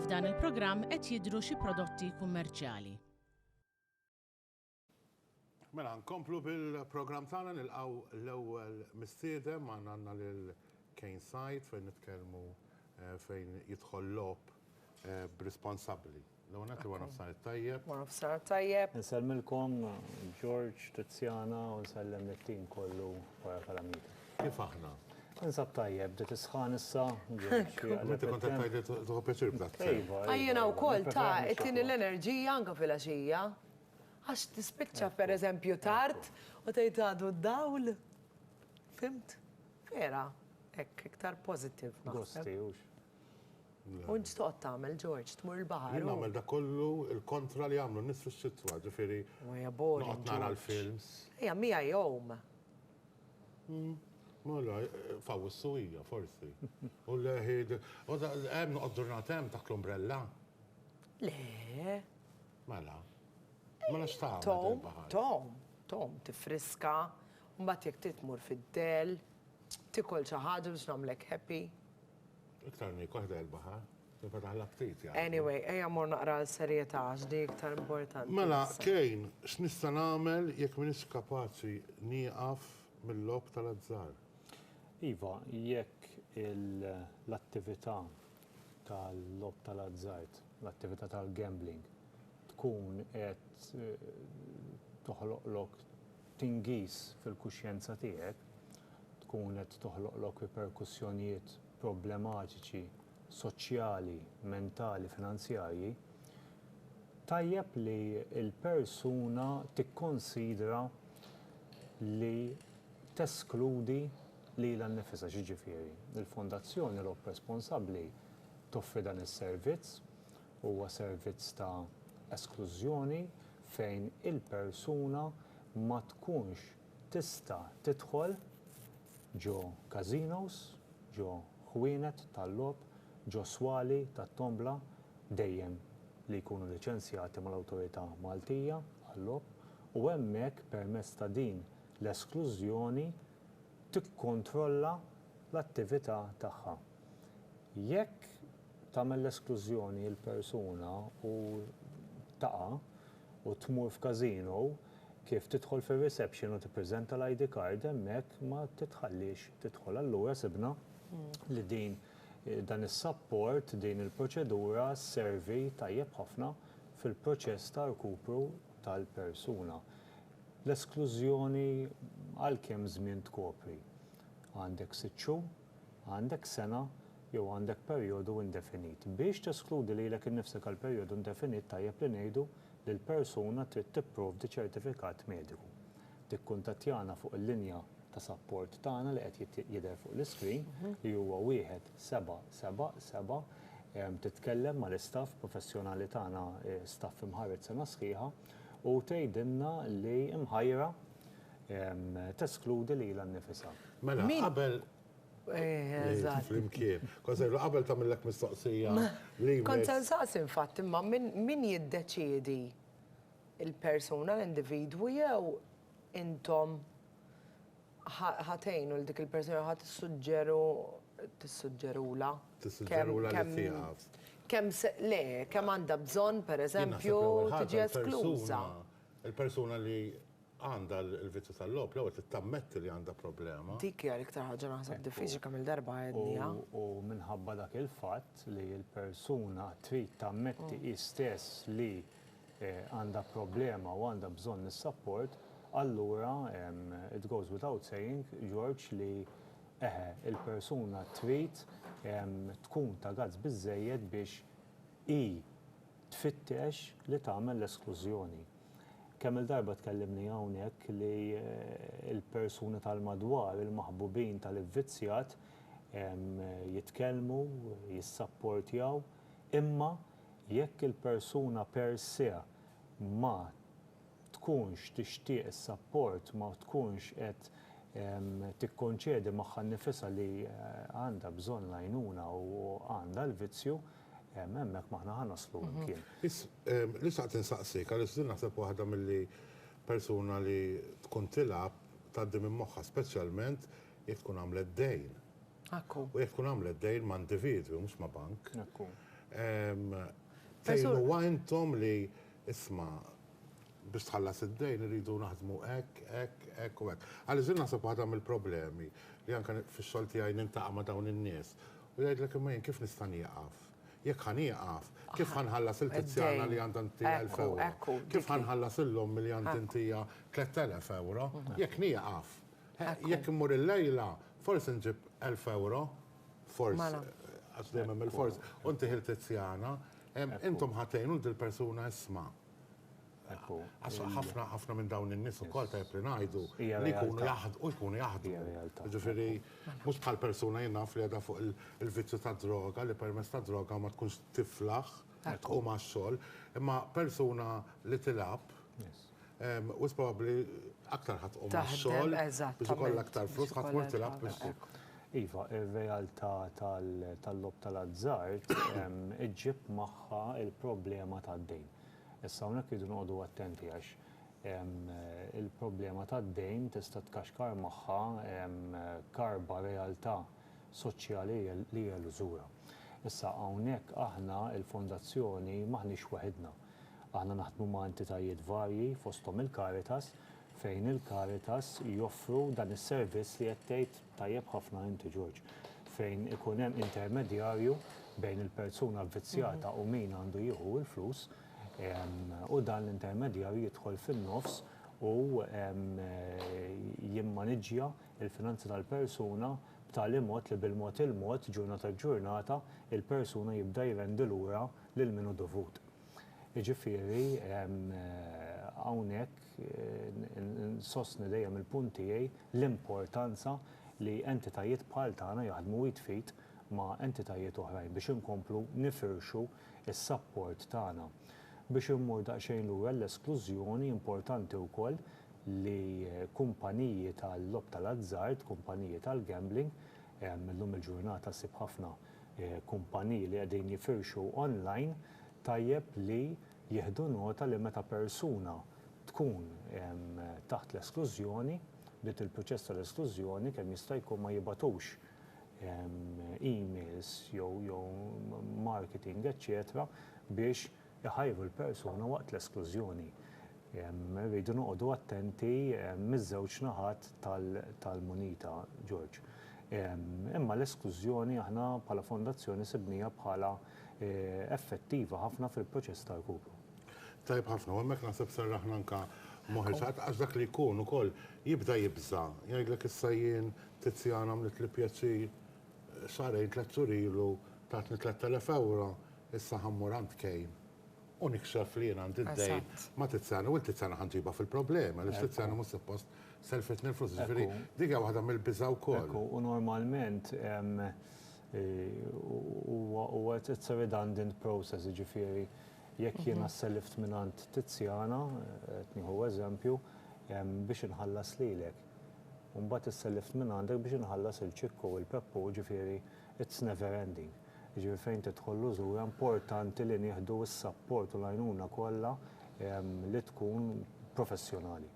F'dan il-programm qed jidhru xi prodotti kummerċjali. Mela, nkomplu bil-programm tagħna nilqgħu l-ewwel mistiedem għandna għandna lil Kane Said fejn nitkellmu fejn jidħol logħob b'responsabbli. L-ewwel nett wara nofsinhar it-tajjeb. Wara nofsinhar it-tajjeb. Insellmilkom George, Tiziana u nsellem lit-tim kollu wara Kalamita. Kif aħna? Insab tajjeb, bdiet is-sħan issa. Inti kont qed tgħid li tieħu pjaċir b'dak. Iva. Jiena wkoll ta' tini l-enerġija anke filgħaxija. Għax tispiċċa pereżempju tard u tgħid għadu d-dawl. Fimt? Vera, hekk iktar positive. Gosti, hux. U x'toqgħod tagħmel Ġorġ, tmur il-baħar? Jien nagħmel dak kollu l-kontra li jagħmlu n-nies fix-xitwa, ġifieri noqgħod nara l-films. Ejja, miegħi jgħum. Mela, f'Awwissu hija, forsi. U leħi, hemm noqgħod ġurnata hemm taħt l-umbrella? Le. Mela. Mela x'tagħmel? Tom, tom, tom, tifriska, mbagħad jekk titmur fid-dell, tikol xi ħaġa biex nagħmlek happy. Iktar mik waħda il-baħar, tinfetaħ l-aptit jgħidu. Anyway, ejja mor naqra l-serjetà għax di iktar importanti. Mela, Kane, x'nista' nagħmel jekk m'iniex kapaċi nieqaf mil-logħob tal-azzar? Iva, jekk l-attività tal-logħob tal-azzard, l-attività tal-gambling, tkun qed toħloqlok tingiż fil-kuxjenza tiegħek, tkun qed toħloqlok riperkussjonijiet problematiċi soċjali, mentali, finanzjarji, tajjeb li l-persuna tikkonsidra li teskludi lilha nnifisha. X'jiġifieri? Il-Fondazzjoni Robb Responsabbli toffri dan is-servizz. Huwa servizz ta' esklużjoni fejn il-persuna ma tkunx tista' tidħol ġo każinos, ġo ħwienet tal-logħob, ġo swali tat-tombla, dejjem li jkunu liċenzjati mal-Awtorità Maltija għal-Logħob, u hemmhekk permezz ta' din l-esklużjoni tikkontrolla l-attività tagħha. Jekk tagħmel l-esklużjoni l-persuna u taqa' u tmur f'casino, kif tidħol fir-reception u tippreżenta l-ID card hemmhekk ma titħalliex tidħol. Allura sibna li din dan is-sapport, din il-proċedura sservi tajjeb ħafna fil-proċess ta' rkupru tal-persuna. L-esklużjoni għal kemm żmien tkopri? Għandek sitt xhur? għandek sena jew għandek perjodu indefinit. Biex teskludi lilek innifsek għal perjodu indefinit tajjeb li ngħidu li l-persuna trid tipprovdi ċertifikat mediku. Tikkuntattjana fuq il-linja ta' sapport tagħna li qed jidher fuq l-iskrin li huwa wieħed seba' seba' seba' titkellem mal-istaff professjonali tagħna staff imħarred sena sħiħa u tgħidilna li mħajra teskludi lilha nnifisha. Mela, qabel Flimkien. Konsejlu, qabel ta' millek mistoqsija. Konsen saqs infatt, imma min jiddeċiedi il-persuna, l-individwu, jew intom ħatejnu l-dik il-persuna ħat suġġeru tissuġġerula. Tissuġġerula li tiegħek. Kemm le, kemm għandha bżonn, per eżempju, tiġi eskluża. Il-persuna li għandha l-vizzju tal-logħob l-ewwel trid tammetti li għandha problema. Dik hija l-iktar ħaġa naħseb diffiċli kemm-il darba għedniha. U minħabba dak il-fatt li l-persuna trid tammetti hi stess li għandha problema u għandha bżonn is-sapport, allura it goes without saying, George, li eħe, il-persuna trid tkun ta' gazz biżżejjed biex hi tfittex li tagħmel l-esklużjoni. Kemm-il darba tkellimni hawnhekk li l-persuni tal-madwar, il-maħbubin tal-ivvizzjat, jitkellmu, jissapportjaw, imma jekk il-persuna per se ma tkunx tixtieq is-sapport, ma tkunx qed tikkonċedi magħha nnifisha li għandha bżonn l-għajnuna u għandha l-vizzju, Hemm, hemmhekk ma aħna ħa naslu mkien. Biss, li xtaqt insaqsik, għaliex din naħseb waħda milli persuna li tkun tilgħab tgħaddi minn moħħha, speċjalment jekk tkun għamlet dejn. Ekku. U jekk tkun għamlet dejn ma' individwi, mhux ma' bank. Ekku. Fejn huwa intom li isma' biex tħallas id-dejn iridu naħdmu hekk, hekk, hekk u hekk. Għaliex din naħseb waħda mill-problemi li anke fix-xogħol tiegħi nintaqa' ma' dawn in-nies U jgħidlek imma jien kif nista' nieqaf? Jekk ħa nieqaf, kif ħa nħallas il-Kizjana li għandha ntija elf ewro? Kif ħa nħallas lill-ommi li għandi ntija tlett elef ewro? Jekk nieqaf. Jekk immur il-lejla, forsi nġib elf ewro. Forsi. Għax dejjem hemm il-forsi. U ntih il-Kizjana. Intom ħa tgħinu lil dil-persuna isma'. Ekku. Għax ħafna ħafna minn dawn in-nies ukoll tajjeb li ngħidu li jkunu jaħdmu u jkunu jaħdmu. Jiġifieri mhux bħal persuna jien naf li qiegħda fuq il-vizzju tad-droga li permezz tad-droga ma tkunx tiflaħ u ma xogħol, imma persuna li tilgħab u probabbli aktar ħadd u ma xogħol biex ikollha aktar flus ħadd mur tilgħab biex. Iva, ir-realtà tal-lob tal-azzard iġġib magħha il-problema tad-dejn. Issa hawnhekk irridu noqogħdu attenti għax il-problema tad-dejn tista' tkaxkar magħha karba realtà soċjali li hija lużura. Issa hawnhekk aħna l-Fondazzjoni m'aħniex waħidna. Aħna naħdmu ma' entitajiet varji fosthom il-Caritas fejn il-Caritas joffru dan is-servizz li qed tgħid Tajjeb ħafna inti George. Fejn ikun hemm intermedjarju bejn il-persuna vvizzjata u min għandu jieħu il-flus, u dan l-intermedjarju jidħol fin-nofs u jimmaniġġja l-finanzi tal-persuna b'tali mod li bil-mod il-mod, ġurnata ġurnata, il-persuna jibda jrendi lura lil min hu dovut. Jiġifieri hawnhekk insostni dejjem il-punt tiegħi, l-importanza li entitajiet bħal tagħna jaħdmu id f'id ma' entitajiet oħrajn biex inkomplu nifirxu s-sapport tagħna. Biex immur daqsxejn lura l-esklużjoni, importanti wkoll li kumpaniji tal-logħob tal-azzard, kumpaniji tal-gambling, illum il-ġurnata ssib ħafna kumpaniji li qegħdin jifirxu online, tajjeb li Jieħdu nota li meta persuna tkun taħt l-esklużjoni, bdiet il-proċess tal-esklużjoni, kemm jista' jkun ma jibgħatux emails jew marketing eċċetera biex iħajru l-persuna waqt l-esklużjoni. Irridu noqogħdu attenti miż-żewġ naħat tal-munita, George. Imma l-esklużjoni aħna bħala fondazzjoni sibniha bħala effettiva ħafna fil-proċess ta' rkupru. Tajjeb ħafna, u hemmhekk naħseb serraħna anke moħħi x'għadd għax dak li jkun ukoll jibda jibża'. Jgħidlek issa jien Tiziana għamlitli pjaċir xahrejn tliet xhur ilu tatni tlett elef ewro, issa ħa mmur għand Kane u nikxef li jien għandi d-dejn ma' Tiziana u lil Tiziana ħa nġibha fil-problemi għaliex Tiziana mhux suppost sellfitni l-flus. Jiġifieri dik hija waħda mill-biża' wkoll. U normalment Huwa it's a redundant process, jiġifieri jekk jiena sselift mingħand Tiziana, qed nieħu eżempju, biex inħallas lilek, u mbagħad isselift mingħandek biex inħallas lil Ċikku u lil Peppu, jiġifieri it's never ending. Jiġifieri fejn tidħol l-użura importanti li nieħdu s-sapport u l-għajnuna kollha li tkun professjonali.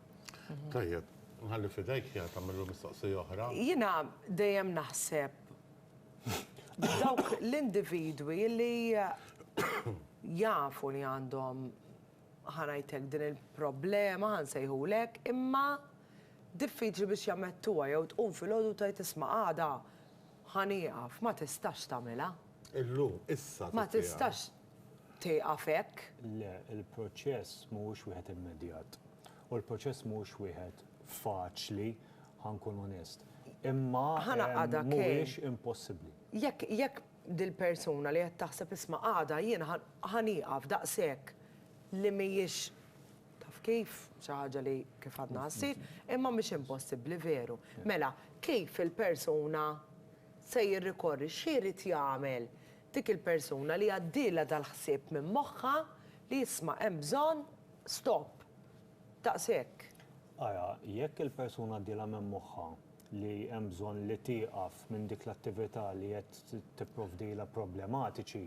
Tajjeb, nħalli f'idejk Jana tagħmel mistoqsija oħra. Jiena dejjem naħseb Dawk l-individwi li jafu li għandhom ħanajtek din il-problema ħan sejħulek, imma diffiċli biex jamettuha jew tqum filgħodu tgħid isma' għada ħan ieqaf, ma tistax tagħmilha. Illum, issa. Ma tistax tieqaf hekk. Le, il-proċess mhuwiex wieħed immedjat. U l-proċess mhuwiex wieħed faċli Ħa nkun onest. Imma mhuwiex impossibbli. Jekk, jekk dil-persuna li qed taħseb isma' għada jien ħa nieqaf daqshekk li mhijiex taf kif, xi ħaġa li kif għadna ħa ssir, imma mhix impossibbli veru. Mela, kif il-persuna se jirrikorri, x'irid jagħmel dik il-persuna li għaddielha dal-ħsieb minn moħħha li isma' hemm bżonn stop. Daqshekk. Ara, jekk il-persuna għaddielha minn moħħha li hemm bżonn li tieqaf minn dik l-attività li qed tipprovdilha problematiċi,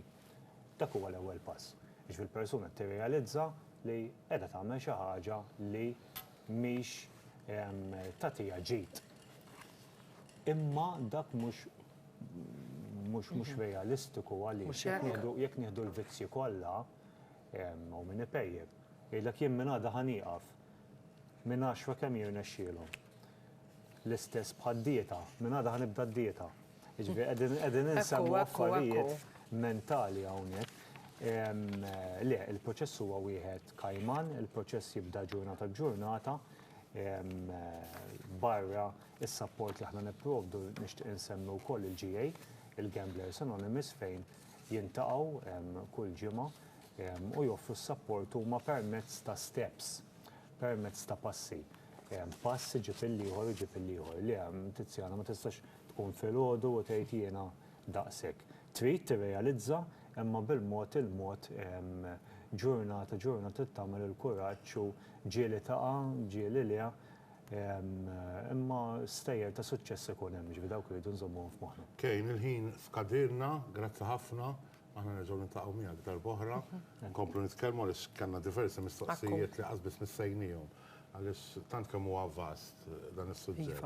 dak huwa l-ewwel pass. Jiġifieri l-persuna qed tirrealizza li qiegħda tagħmel xi ħaġa li mhix tagħtiha ġid. Imma dak mhux mhux mhux realistiku għaliex jekk nieħdu jekk nieħdu l-vizzji kollha, Hawn min ipejjep. Jgħidlek jien minn għada ħa nieqaf. Minn għaxra kemm jirnexxielhom. L-istess bħad-dieta. Minn għada ħa nibda d-dieta. Jiġifieri qegħdin insemmu affarijiet mentali hawnhekk. Le, il-proċess huwa wieħed kajman, il-proċess jibda ġurnata b'ġurnata. Barra s-sapport li aħna nipprovdu nixtieq insemmi wkoll il-GA, il-Gamblers Anonymous fejn jiltaqgħu kull ġimgħa u joffru s-sapport huma permezz ta' steps, permezz ta' passi. Pass iġib il-ieħor, iġib il-ieħor. Le, Tiziana, ma tistax tqum filgħodu u tgħid jiena daqshekk. Trid tirrealizza, imma bil-mod il-mod ġurnata ġurnata trid tagħmel il-kuraġġ u ġieli taqa', ġieli le, Imma stejjer ta' suċċess ikun hemm, jiġifieri dawk irridu nżommuhom f'moħħna. Kane, il-ħin skadilna, grazzi ħafna, aħna nerġgħu niltaqgħu miegħek darba oħra, nkomplu nitkellmu għaliex kellna diversi mistoqsijiet li qatt biss missejnihom għaliex tant kemm huwa vast dan is-suġġett.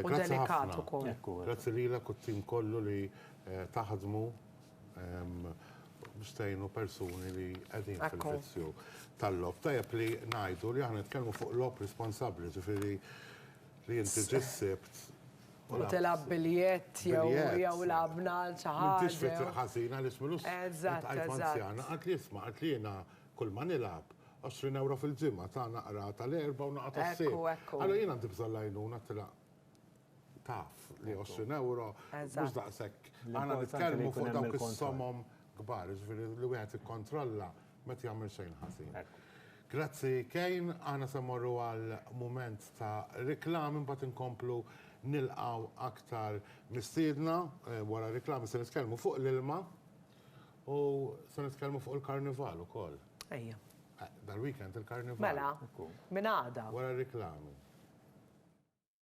Grazzi ħafna. Grazzi lilek u t-tim kollu li taħdmu. Stejnu persuni li qegħdin fil-vizzju tal-lob. Tajjeb li ngħidu li aħna nitkellmu fuq lob responsabbli, ġifieri li inti ġissibt U tilab biljett jew jew labna għal xi ħaġa. M'intix fit ħażina li smilu. Eżatt. Anzjana qatt li jisma' qatt li jiena kull ma nilgħab 20 ewro fil-ġimgħa ta' naqra tal-erba' u naqgħa tas-sibt. Allura jien għandi bżonn l-għajnuna tilgħab. taf li 20 euro mhux daqshekk. Għandna nitkellmu fuq dawk is-somom kbar, jiġifieri li wieħed ikkontrolla ma jagħmel xejn ħażin. Grazzi Kejn, aħna se mmorru għal mument ta' reklam imbagħad inkomplu nilqgħu aktar mistiedna wara reklam se nitkellmu fuq l-ilma u se nitkellmu fuq il-Karnival ukoll. Ejja. Dal-weekend il-Karnival. Mela, minn għada. Wara r-reklami.